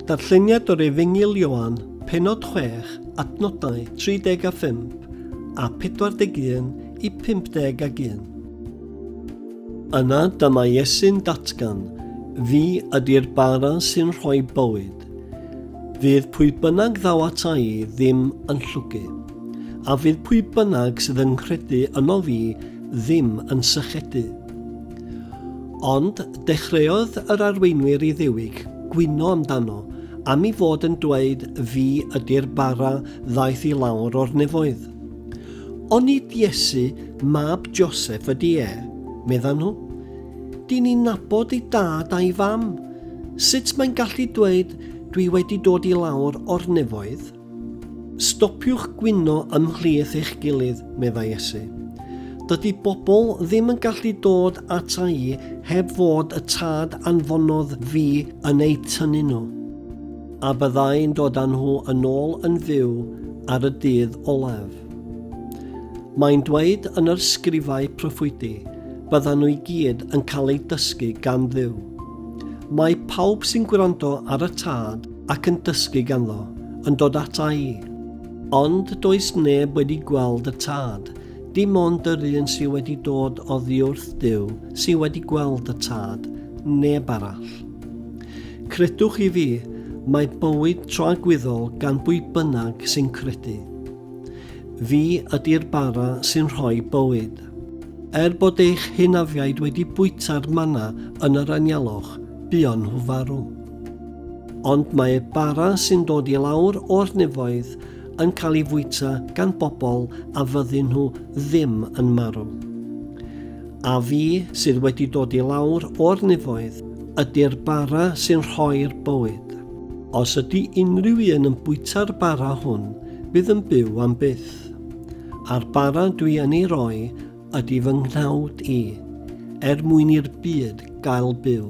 Darlleniad o'r Efengyl Ioan, pennod 6, adnodau 35 a 41 i 51. Yna dyma Iesu'n datgan, Fi ydy'r bara sy'n rhoi bywyd. Fydd pwy bynnag ddaw ata i ddim yn llwgu, a fydd pwy bynnag sydd yn nghredu yno fi ddim yn sychedu. Ond dechreuodd yr arweinwyr i ddiwig gwyno amdano am i fod yn dweud fi ydy'r bara ddaeth i lawr o'r nefoedd. Ond nid Iesu, mab Joseph ydy e, meddan nhw. Dyn ni'n nabod ei dad a'i fam. Sut mae'n gallu dweud dwi wedi dod i lawr o'r nefoedd? Stopiwch gwyno ymhlith eich gilydd, meddai Iesu. Dydy bobl ddim yn gallu dod ata i heb fod y tad anfonodd fi yn eu tynnu nhw. A byddai'n dod â nhw yn ôl yn fyw ar y dydd olaf. Mae'n dweud yn yr sgrifau proffwydi, byddan nhw i gyd yn cael eu dysgu gan ddiw. Mae pawb sy'n gwrando ar y tad ac yn dysgu ganddo, yn dod ata i. Ond does neb wedi gweld y Tad, dim ond yr un sydd wedi dod oddiwrth Duw sydd wedi gweld y Tad, neb arall. Credwch i fi, mae bywyd tragwyddol gan bwy bynnag sy'n credu. Fi ydy'r bara sy'n rhoi bywyd. Er bod eich hynafiaid wedi bwyta'r mana yn yr anialwch, buon nhw farw. Ond mae bara sy'n dod i lawr o'r nefoedd yn cael ei fwyta gan bobl a fyddyn nhw ddim yn marw. A fi sydd wedi dod i lawr o'r nefoedd ydy'r bara sy'n rhoi'r bywyd. Os ydy unrhyw un yn bwyta'r bara hwn, bydd yn byw am byth. A'r bara dwi yn ei roi ydy fy nghnawd i, er mwyn i'r byd gael byw.